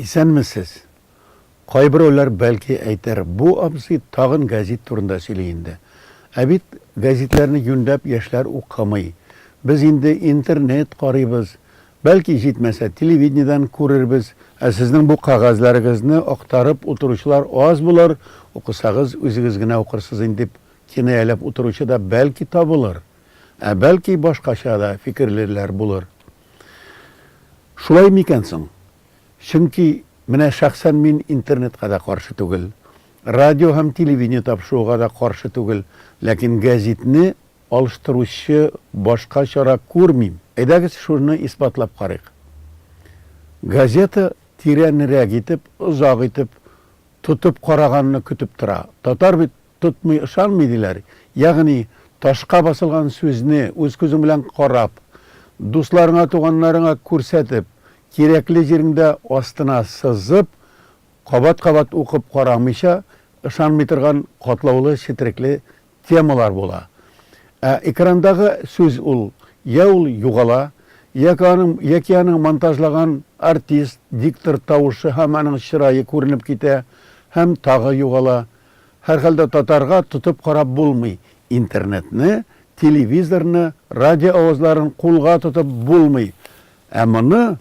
Исәнмесез! Кайберәүләр бәлки әйтер, бу абзый тагын гәзит турында сөйли инде. Ә бит гәзитләрне юньләп яшьләр укымый. Без инде интернет карыйбыз, Бәлки, җитмәсә, телевидениедән күрербез. Ә сезнең бу кәгазьләрегезне актарып утыручылар аз булыр, укысагыз, үзегез генә укырсыз инде, дип кинаяләп утыручы да, бәлки, табылыр. Ә бәлки, башкача да фикерлеләр булыр. Шулай микән соң? Чөнки менә шәхсән мин интернетка да каршы түгел, радио һәм телевидение тапшыруга да каршы түгел, ләкин гәзитне Алыштыручы башка чара күрмим. Әйдәгез шуны исбатлап карыйк. Газета тирәнрәк итеп, озак итеп тотып караганны көтеп тора. Татар бит тотмый ышанмый диләр. Ягъни, ташка басылган сүзне үз күзең белән карап, дусларыңа, туганнарыңа күрсәтеп, кирәкле җиреңдә астына сызып, кабат-кабат укып карамыйча, ышанмый торган катлаулы-четерекле темалар була. Ә экрандагы сүз ул йә ул югала, яки аның яки аның монтажлаган артист, диктор тавышы һәм аның чырае күренеп китә һәм тагы югала. Һәрхәлдә татарга тотып карап булмый, интернетны, телевизорны, радио авазларын кулга тотып булмый. Ә моны.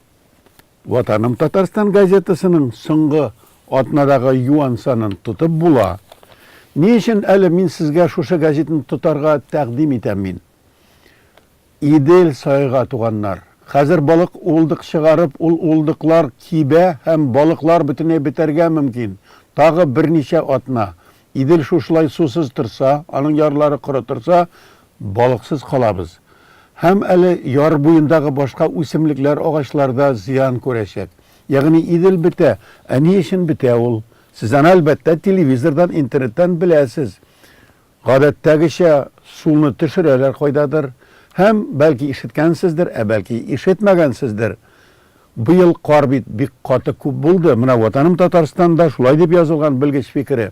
Ватаным Татарстан газетасының соңгы атнадагы юан санын тотып була. Ни өчен әле мин сезгә шушы газетны тотарга тәкъдим итәм мин? Идел сайга туганнар. Хәзер балык улдык чыгарып, ул улдыклар кибә һәм балыклар бөтенләй бетәргә мөмкин. Тагы берничә атна Идел шушылай сусыз торса, аның ярлары коры торса, Балыксыз калабыз. Һәм әле яр буендагы башка үсемлекләр, агачлар да зыян күрәчәк. Ягъни Идел бетә. Ә ни өчен бетә ул? Сез аны, әлбәттә, телевизордан, интернеттан беләсез. Гадәттәгечә, суны төшерәләр кайдадыр. Һәм, бәлки, ишеткәнсездер, ә бәлки, ишетмәгәнсездер. Быел кар бит бик каты күп булды. Менә Ватаным Татарстанда шулай дип язылган белгеч фикере.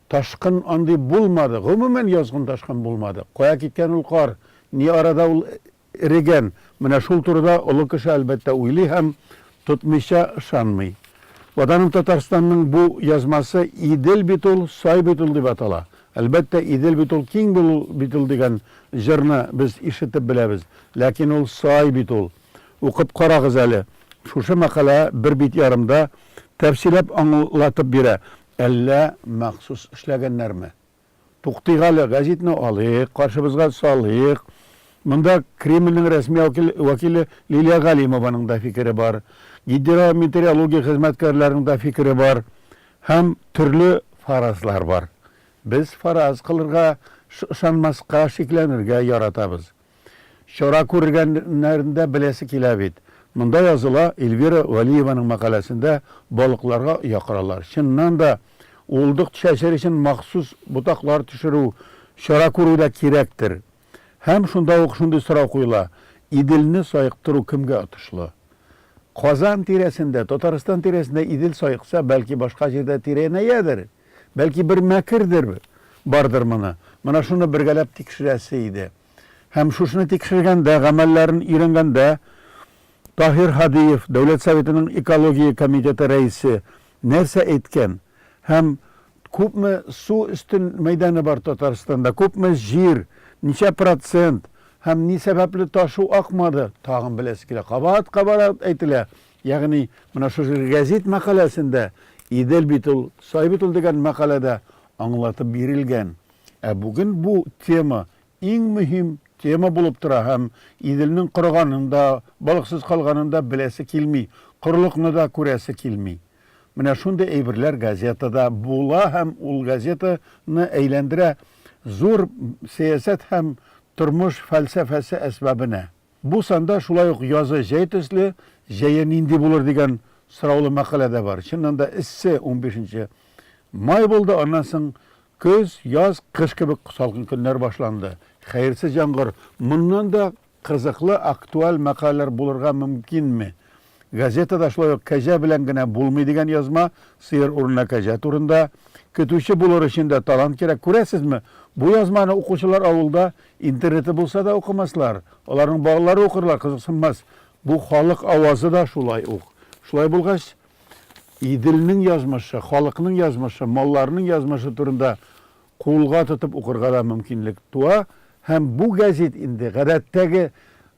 Ташкын андый булмады, гомумән язгын ташкын булмады. Кая киткән ул кар, ни арада ул эрегән, менә шул турыда олы кеше, әлбәттә, уйлый һәм тотмыйча ышанмый. Ватаным Татарстанның бу язмасы Идел бит ул, сай бит ул дип атала. Әлбәттә, Идел бит ул, киң бит ул дигән җырны без ишетеп беләбез. Ләкин ул сай бит ул. Укып карагыз әле. Шушы мәкалә бер бит ярымда тәфсилләп аңлатып бирә. Әллә махсус эшләгәннәрме? Туктыйк әле, гәзитне алыйк, каршыбызга салыйк. Монда Кремльнең рәсми вәкиле Лилия Галимованың да фикере бар, гидрометеорология хезмәткәрләренең дә фикере бар һәм төрле фаразлар бар. Без фараз кылырга, ышанмаска, шикләнергә яратабыз. Чара күргәннәрендә беләсе килә бит. Монда языла, Эльвира Вәлиеваның мәкаләсендә балыкларга оя коралар. Чыннан да, уылдык төшәсе өчен махсус ботаклар төшерү, чара күрү дә кирәктер. Һәм шунда ук шундый сорау куела, Иделне саектыру кемгә отышлы? Казан тирәсендә, Татарстан тирәсендә Идел саекса, бәлки башка җирдә тирәнәядер? Бәлки бер мәкердер бардыр моны. Менә шуны бергәләп тикшерәсе иде. Һәм шушыны тикшергәндә, гамәлләрен өйрәнгәндә Таһир Һадиев, Дәүләт Советының экология комитеты рәисе, нәрсә әйткән? Һәм күпме су өстен мәйданы бар Татарстанда, күпме җир, ничә процент һәм ни сәбәпле ташу акмады? Тагын беләсе килә. Кабат-кабат әйтелә. Ягъни, менә шушы гәзит мәкаләсендә Идел бит ул, сай бит ул дигән мәкаләдә аңлатып бирелгән. Ә бүген бу тема иң мөһим тема булып тора һәм Иделнең корыганын да, балыксыз калганын да беләсе килми, корылыкны да күрәсе килми. Менә шундый әйберләр газетада була һәм ул газета ны әйләндерә зур сәясәт һәм тормыш фәлсәфәсе әсбабенә. Бу санда шулай ук язы җәй төсле, җәе нинди булыр дигән сораулы мәкалә дә бар. Чыннан да эссе унбишенче май булды, аннан соң көз, яз, кыш кебек салкын көннәр башланды. Хәерсез яңгыр. Моннан да кызыклы, актуаль мәкаләләр булырга мөмкинме? Газетада шулай ук кәҗә белән генә булмый дигән язма, сыер урынына кәҗә турында. Көтүче булыр өчен дә талант кирәк. Күрәсезме, бу язманы укучылар авылда, интернеты булса да укымаслар. Аларның балалары укырлар, кызыксынмас. Бу халык авазы да шулай ук. Шулай булгач, Иделнең язмышы, халыкның язмышы, малларның язмышы турында кулга тотып укырга да мөмкинлек туа һәм бу гәзит инде гадәттәге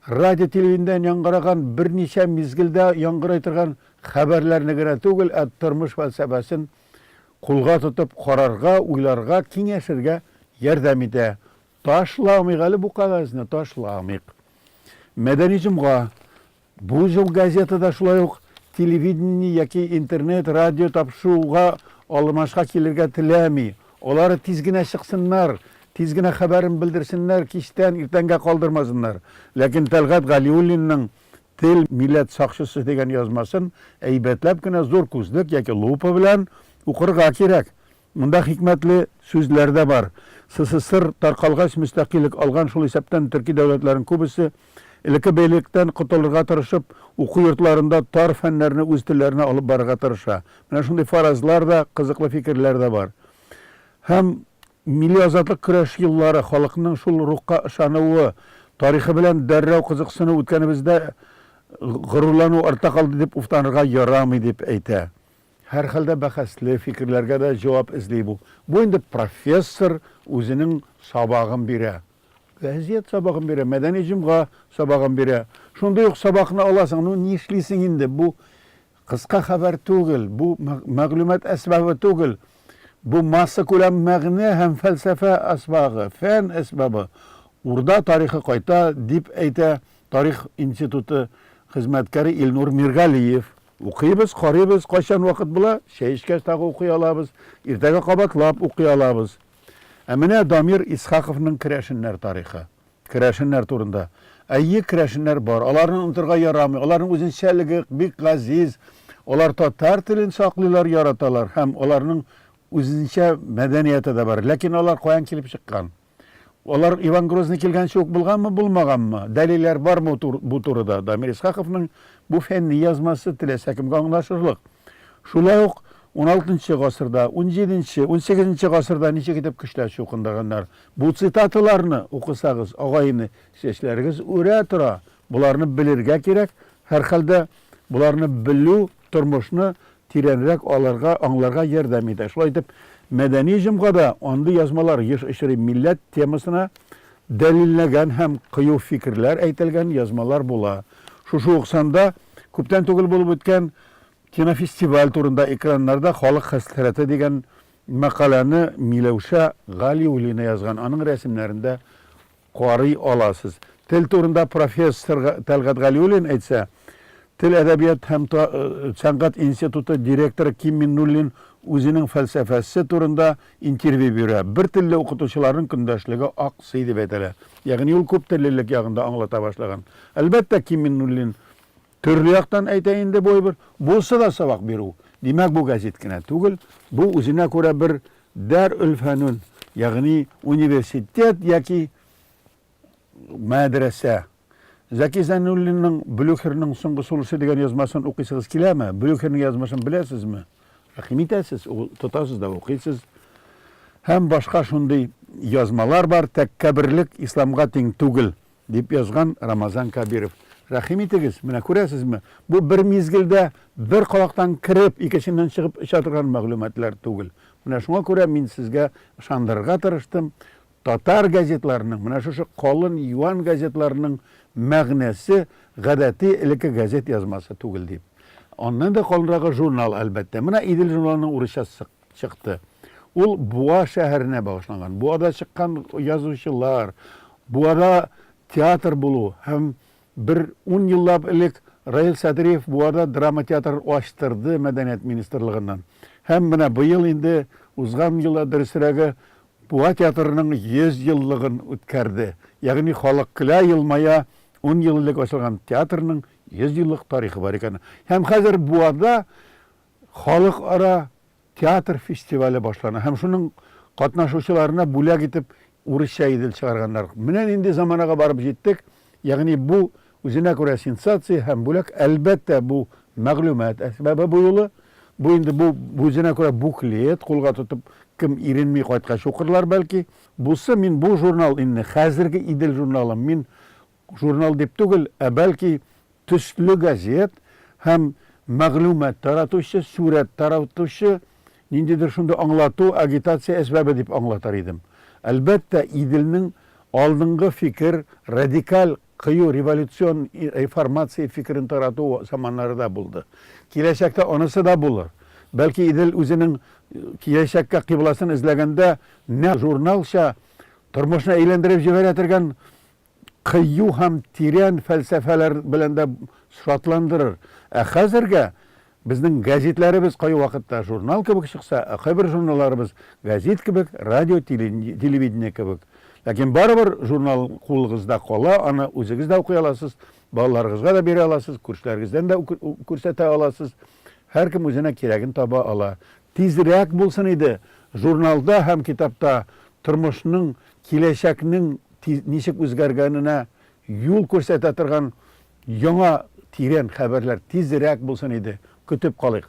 радио-телевидениедән яңгыраган, берничә мизгелдә яңгырый торган хәбәрләрне генә түгел, ә тормыш фәлсәфәсен кулга тотып карарга, уйларга, киңәшергә ярдәм итә. Ташламыйк әле бу кәгазьне, ташламыйк. Мәдәни җомга. Бу җыл газетада шулай ук телевидение яки интернет, радио тапшыруга алмашка килергә теләми. Алар тиз генә чыксыннар, тиз генә хәбәрен белдерсеннәр, кичтән иртәнгә калдырмасыннар. Ләкин Тәлгать Галиуллинның Тел, милләт сакчысы дигән язмасын әйбәтләп кенә зур күзлек яки лупа белән укырга кирәк. Монда хикмәтле сүзләр дә бар. СССР таркалгач мөстәкыйлек алган, шул исәптән төрки дәүләтләрнең күбесе, элекке бәйлелектән котылырга тырышып, уку йортларында тар фәннәрне үз телләренә алып барырга тырыша. Менә шундый фаразлар да, кызыклы фикерләр дә бар. Һәм милли азатлык көрәш еллары, халыкның шул рухка ышануы, тарихы белән дәррәү кызыксыну үткәнебездә горурлану артта калды дип уфтанырга ярамый, дип әйтә. Һәрхәлдә бәхәсле фикерләргә дә җавап эзли бу. Бу инде профессор үзенең сабагын бирә. Вәзият сабагын бирә, мәдәни җомга сабагын бирә. Шундый ук сабакны аласың, ну нишлисең инде, бу кыска хәбәр түгел, бу мәгълүмат әсбабы түгел, бу массакүләм мәгънә һәм фәлсәфә әсбагы, фән әсбабы. Урда тарихы кайта, дип әйтә тарих институты хезмәткәре Илнур Миргалиев. Укыйбыз, карыйбыз, кайчан вакыт була, чәй эчкәч тагы укый алабыз, иртәгә кабатлап укый алабыз. Ә менә Дамир Исхаковның керәшеннәр тарихы. Керәшеннәр турында. Әйе, керәшеннәр бар. Аларны онытырга ярамый. Аларның үзенчәлеге бик газиз. Алар татар телен саклыйлар, яраталар һәм аларның үзенчә мәдәнияте дә бар. Ләкин алар каян килеп чыккан? Алар Иван Грозный килгәнче үк булганмы, булмаганмы, дәлилләр бармы бу турыда? Дамир Исхаковның бу фәнни язмасы теләсә кемгә аңлашырлык. Шулай ук уналтынчы гасырда, унҗиденче, унсигезенче гасырда ничек итеп көчләр чукындырганнар? Бу цитаталарны укысагыз, агай-эне, чәчләрегез үрә тора. Боларны белергә кирәк. Һәрхәлдә, боларны белү тормышны тирәнрәк алырга, аңларга ярдәм итә. Шулай итеп, мәдәни җомга да андый язмалар еш очрый, милләт темасына дәлилләгән һәм кыю фикерләр әйтелгән язмалар була. Шушы ук санда күптән түгел булып үткән кинофестиваль турында Экраннарда халык хәсрәте дигән мәкаләне Миләүшә Галиуллина язган, аның рәсемнәрен дә Карый аласыз. Тел турында профессор Тәлгать Галиуллин әйтсә, Тел, әдәбият һәм сәнгать институты директоры Ким Миннуллин үзенең фәлсәфәсе турында интервью бирә. Бер телле укытучыларның көндәшлеге аксый дип әйтәләр. Ягъни ул күптеллелек ягын да аңлата башлаган. Әлбәттә, Ким Миннуллин Төрле яктан әйтә инде бу әйбер. Булса да сабак бирү. Димәк, бу гәзит кенә түгел, бу үзенә күрә бер дәр-өлфәнүн, ягъни университет яки мәдрәсә. Зәки Зәйнуллинның Блюхерның соңгы сулышы дигән язмасын укыйсыгыз киләме? Блюхерның язмышын беләсезме? Рәхим итәсез, тотасыз да укыйсыз. Һәм башка шундый язмалар бар, тәккәберлек исламга тиң түгел. Дип язган Рамазан Кабиров. Рәхим итегез, менә күрәсезме, бу бер мизгелдә бер колактан кереп, икенченнән чыгып оча торган мәгълүматлар түгел. Менә шуңа күрә мин сезгә ышандырырга тырыштым, татар газетларының, менә шушы калын юан газетларының мәгънәсе гадәти элекке газет язмасы түгел дип. Аннан да калынрагы журнал, әлбәттә. Менә Идел журналының урысчасы чыкты. Ул Буа шәһәренә багышланган. Буада чыккан язучылар, Буада театр булу һәм бер ун еллап элек Раил Садриев Буада драма театрын ачтырды Мәдәният министрлыгыннан. Һәм менә быел инде, узган елда, дөресрәге, Буа театрының 100 еллыгын үткәрде. Ягъни халык көлә, елмая, ун ел элек ачылган театрның 100 еллык тарихы бар икән. Һәм хәзер Буада Халыкара театр фестивале башлана һәм шуның катнашучыларына бүләк итеп урысча Идел чыгарганнар. Менә нинди заманага барып җиттек, ягъни бу үзенә күрә сенсация һәм бүләк, әлбәттә, бу мәгълүмат әсбабы бу юлы. Бу инде бу үзенә күрә буклет, кулга тотып кем иренми кайткач укырлар, бәлки. Бусы мин бу журнал инде хәзерге Идел журналым мин Журнал дип түгел, ә бәлки төсле газет һәм мәгълүмат таратучы, сурәт таратучы, ниндидер шундый аңлату, агитация әсбабе дип аңлатыр идем. Әлбәттә, Иделнең алдынгы фикер, радикаль, кыю революцион реформация фикерен тарату заманнары да булды. Киләчәктә анысы да булыр. Бәлки Идел үзенең киләчәккә кыйбласын эзләгәндә нәкъ журналча тормышны әйләндереп җибәрә торган кыю һәм тирән фәлсәфәләр белән дә шатландырыр. Ә хәзергә безнең гәзитләребез кайвакытта журнал кебек чыкса, ә кайбер журналларыбыз гәзит кебек, радио, телевидение кебек. Ләкин барыбер журнал кулыгызда кала, аны үзегез дә укый аласыз, балаларыгызга да бирә аласыз, күршеләрегездән дә күрсәтә аласыз. Һәркем үзенә кирәген таба ала. Тизрәк булсын иде, журналда һәм китапта тормышның Киләчәкнең ничек үзгәргәненә юл күрсәтә торган яңа тирән хәбәрләр тизрәк булсын иде, көтеп калыйк.